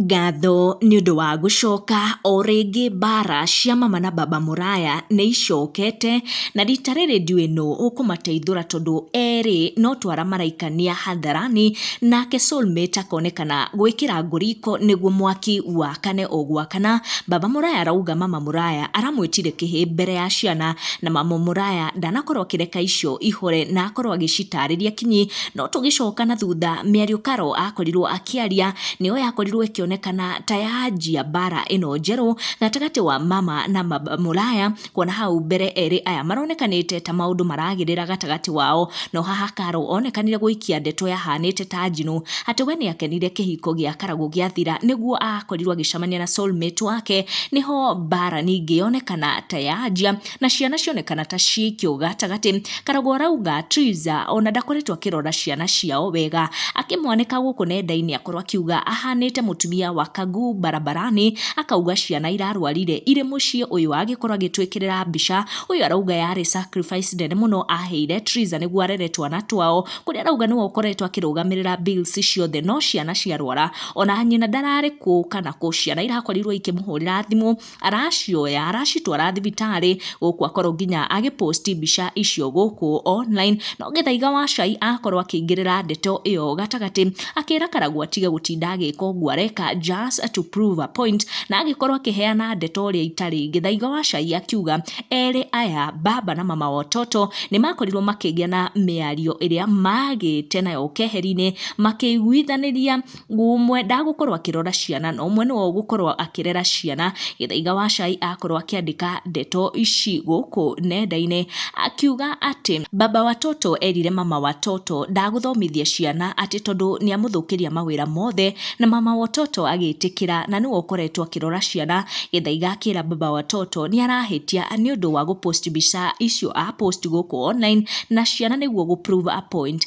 Ngatho nĩ ũndũ wa gũcoka o rĩngĩ mbaara cia mama na baba mũraya nĩ icokete, na rita rĩrĩ ndiũĩ nũ ũkũmateithũra tondũ erĩ no twara maraikania hadharani, nake soul mate akonekana gwĩkĩra ngũ riko nĩguo mwaki wakane o gwakana, baba mũraya arauga mama mũraya aramwĩtire kĩhĩ mbere ya ciana, na mama mũraya ndanakorwo akĩreka icio ihore na akorwo agĩcitarĩria kinyi, No tũgĩcoka na thutha, mĩario Karo akorirwo akĩaria nĩyo yakorirwo ĩkĩonekana ta yanjia mbara ĩno njerũ gatagatĩ wa mama na baba mũraya, kuona hau mbere erĩ aya maronekanĩte ta maũndũ maragĩrĩra gatagatĩ wao, no haha Karo onekanire gũikia ndeto yahanĩte ta njino, atĩ we nĩakenire kĩhiko gĩa Karagũ gĩathira nĩguo akorirwo agĩcemania na soul mate wake, nĩho mbara ningĩ yonekana ta yanjia. na ciana cionekana ta ciaikio gatagatĩ. Karogoo arauga Triza ona ndakoretwo akĩrora ciana ciao wega, akĩmwanĩka gũkũ nenda-inĩ akorwo akiuga ahanĩte mũtumia wa Kagu barabarani, akauga ciana irarwarire irĩ mũciĩ ũyũ agĩkorwo agĩtwĩkĩrĩra mbica, ũyũ arauga yarĩ sacrifice nene mũno aheire Triza nĩguo arere twana twao, kũrĩa arauga nĩwe ũkoretwo akĩrũgamĩrĩra bills ciothe no ciana ciarwara ona nyina ndararĩ kũu kana kũ, ciana irakorirwo ikĩmũhũrĩra thimũ, aracioya aracitwara thibitarĩ gũkũ akorwo nginya agĩ post mbica icio gũkũ online no gĩthaiga wa cai akorwo akĩingĩrĩra ndeto ĩyo gatagatĩ akĩra karagwa atige gũtinda agĩka ũguo areka just to prove a point na agĩkorwo akĩheana ndeto ũrĩa itarĩ gĩthaiga wa cai akiuga erĩ aya baba na mama watoto nĩ makorirwo makĩgĩa na mĩario ĩrĩa magĩte nayo keheri-inĩ makĩiguithanĩria ũmwe ndagũkorwo akĩrora ciana na ũmwe nĩwe ũgũkorwo akĩrera ciana. Gĩthaiga wa cai akorwo akĩandĩka ndeto ici gũkũ nenda-inĩ akiuga atĩ, baba watoto erire mama watoto ndagũthomithia ciana atĩ tondũ nĩ amũthũkĩria mawĩra mothe, na mama watoto agĩtĩkĩra na nĩwe ũkoretwo akĩrora ciana. Gĩthaiga akĩra baba watoto nĩ arahĩtia nĩ ũndũ wa gũ post mbica icio a post gũkũ online na ciana nĩguo gũ prove a point.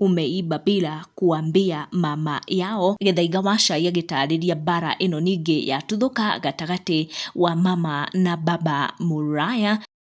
Umeiba bila kuambia mama yao. Gĩthaiga wa Cai agĩtaarĩria mbaara ĩno ningĩ yatuthũka gatagatĩ wa mama na baba Mũraya.